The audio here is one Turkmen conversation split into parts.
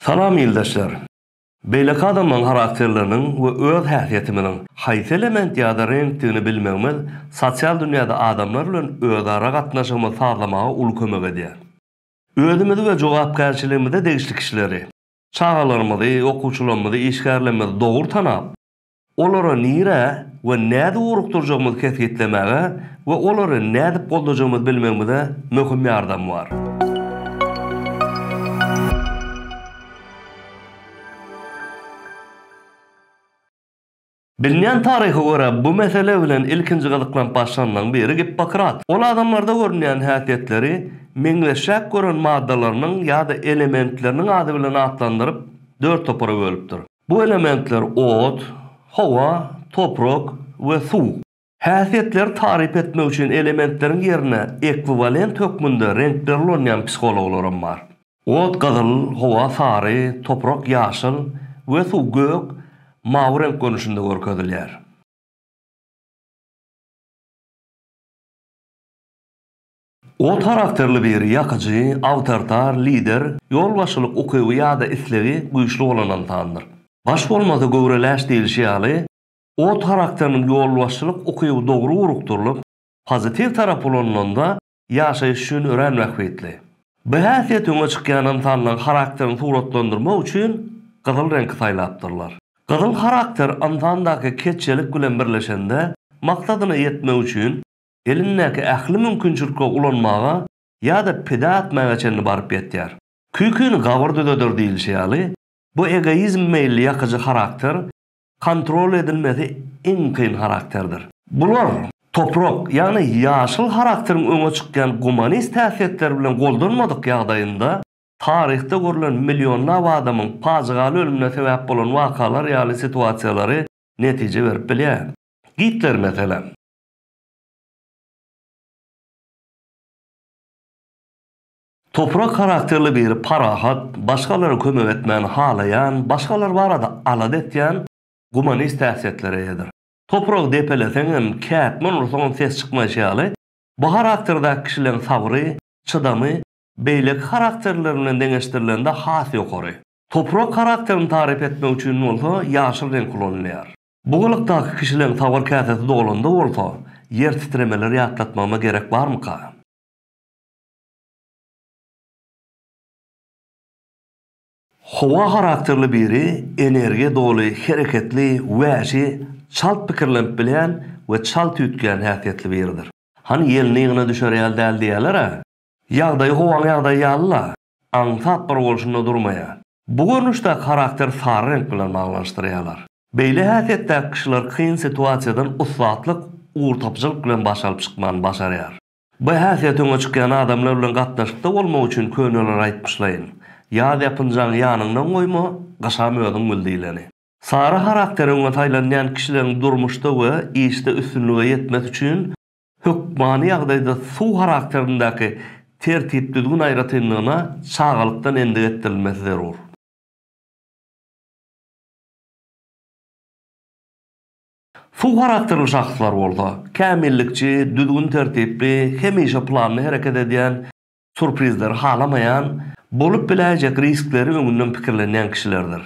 Salam ildeşler! Beýleki adamlaryň harakterleriniň we öz häsiýetimiziň haýsy element ýa-da reňkdigini bilmegimiz sosial dünýäde adamlar bilen özara gatnaşygymyzy sazlamaga uly kömek edýär. Özümizi we jogapkärçiligimize degişli kişileri, çagalarymyzy, okuwçylarymyzy, işgärlerimizi dogry tanap, Olary nirä we nädip ugrukdyrjagymyzy kesgitlemäge we olary nädip goldajagymyzy bilmegimize möhüm ýardamy bar. Bilinýän taryha görä, bu mesele bilen ilkinji gyzyklanyp başlandan biri Gippokrat. Ol adamlarda görünýän häsiýetleri meňzeşräk gören maddalarynyň ýa-da elementleriniň ady bilen atlandyryp, dört topara bölüpdir. Bu elementler ot, howa, toprak we suw. Häsiýetleri taryp etmek üçin elementleriň ýerine ekwiwalent hökmünde reňkleri ulanýan psihologlaram bar. Ot gyzyl, howa sary, toprak ýaşyl we suw gök, mawy reňk görnüşinde görkezilýär. Ot harakterli biri ýakyjy, awtoritar, lider, ýolbaşçylyk ukyby ýa-da islegi güýçli bolan ynsandyr. Baş bolmasa göwreleş diýlişi ýaly, Ot harakteriniň ýolbaşçylyk ukyby dogry urukdyrylyp, pozitiw tarap ulanylanda ýaşaýyş üçin örän bähbitli. Bu häsiýet öňe çykýan ynsanlaryň harakterini suratlandyrmak üçin gyzyl reňki saýlapdyrlar. Gyzyl harakter ynsandaky keçjelik bilen birleşende maksadyna ýetmek üçin elindäki ähli mümkinçilikleri ulanmaga ýa-da pida etmäge çenli baryp ýetýär. Küküni gabyr düzeder diýlişi ýaly, bu egoizm meýilli ýakyjy harakter kontrol edilmesi iň kyn harakterdir. Bular, toprak, ýagny ýaşyl harakteriň öňe çykýan gumanist häsiýetleri bilen goldanmadyk ýagdaýynda, taryhda görlen millionlap adamyň pajygaly ölümine sebäp bolan wakalar ýaly situasiýalary netije berip bilýär. Gitler, meselem. Toprak harakterli biri parahat, başgalara kömek etmäni halaýan, başgalar barada alada etýän, gumanist häsiýetlere eýedir. Topragy depeleseňem, kätmen ursaňam ses çykmaýşy ýaly, bu harakterdäki kişileriň sabry, çydamy beýleki harakterler bilen deňeşdirilende has ýokary. Toprak harakterini taryp etmek üçin bolsa ýaşyl reňk ulanylýar. Bu gylykdaky kişileň sabyr käsesi dolanda bolsa, ýer titremeleri ýatlatmagyma gerek barmyka? Howa harakterli biri energiýa doly, hereketli, wäşi, çalt pikirlenip bilýän we çalt üýtgän häsiýetli biridir. Hany ýelini ýygyna düşer ýaly däl diýýäler-ä. Ýagdaýy howaň ýagdaýy ýaly-la. aňsat bir bolşunda durmaýar. Bu görnüşdäki harakteri sary reňk bilen baglanyşdyrýarlar. Beýle häsiýetdäki kişiler kyn situasiýadan ussatlyk, ugurtapyjylyk bilen baş alyp çykmany başarýar. Bu häsiýet öňe çykýan adamlar bilen gatnaşykda bolmak üçin köneler aýtmyşlaýyn, Ýaz ýapynjagyňy ýanyňdan goýma, gyşam özüň bil diýleni. Sary harakteri öňe saýlanýan kişileriň durmuşda we işde üstünlige ýetmesi üçin Hökmany ýagdaýda suw harakterindäki tertip-düzgün aýratynlygyna çagalykdan endik etdirilmesi zerur. Suw harakterli şahslar bolsa, kämillikçi, düzgün-tertipli, hemişe planly hereket edýän, surprizleri halamaýan, bolup biläýjek riskleri öňünden pikirlenýän kişilerdir.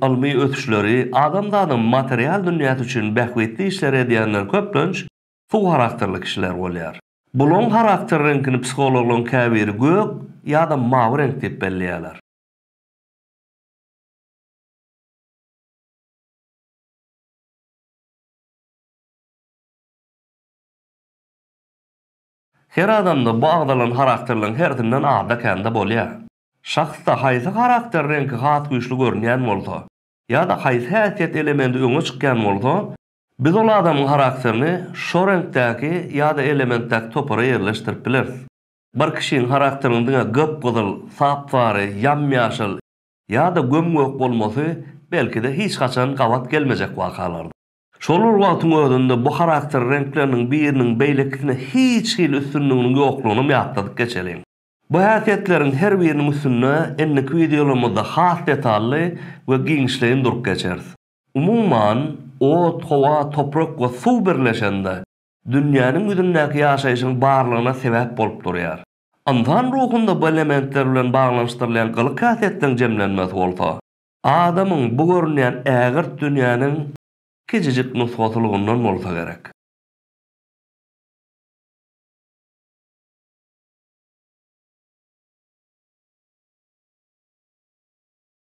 Ylmy ösüşleri, adamzadyň material dünýäsi üçin bähbitli işleri edýänler köplenç suw harakterli kişiler bolýar. Bularyň harakter reňkini psihologlaryň käbiri gök ýa-da mawy reňk diýip belleýärler. Her adamda bu agzalan harakterleriň hersinden azda-kände bolýar. Şahsda haýsy harakter reňki has güýçli görünýän bolsa ýa-da haýsy häsiýet elementi öňe çykýan bolsa, Biz ol adamyň harakterini şo reňkdäki ýa-da elementdäki topara ýerleşdirip bileris. Bir kişiniň harakteriniň diňe gyp-gyzyl, sap-sary, ýam-ýaşyl ýa-da göm-gök bolmasy belki-de hiç haçan gabat gelmejek wakalardyr. Şol bir wagtyň özünde bu harakter reňkleriniň biriniň beýlekisine hiç hili üstünliginiň ýoklugynam ýatladyp geçeliň. Bu häsiýetleriň her biriniň üstünde indiki wideolarymyzda has detally we giňişleýin durup geçeris. Umuman, ot, howa, toprak we suw birleşende, dünýäniň ýüzündäki ýaşaýşyň barlygyna sebäp bolup durýar. Ynsan ruhunda bu elementler bilen baglanyşdyrylýan gylyk-häsiýetleriň jemlenmesi bolsa, adamyň bu görünýän ägirt dünýäniň kiçijik nusgasylygyndan bolsa gerek.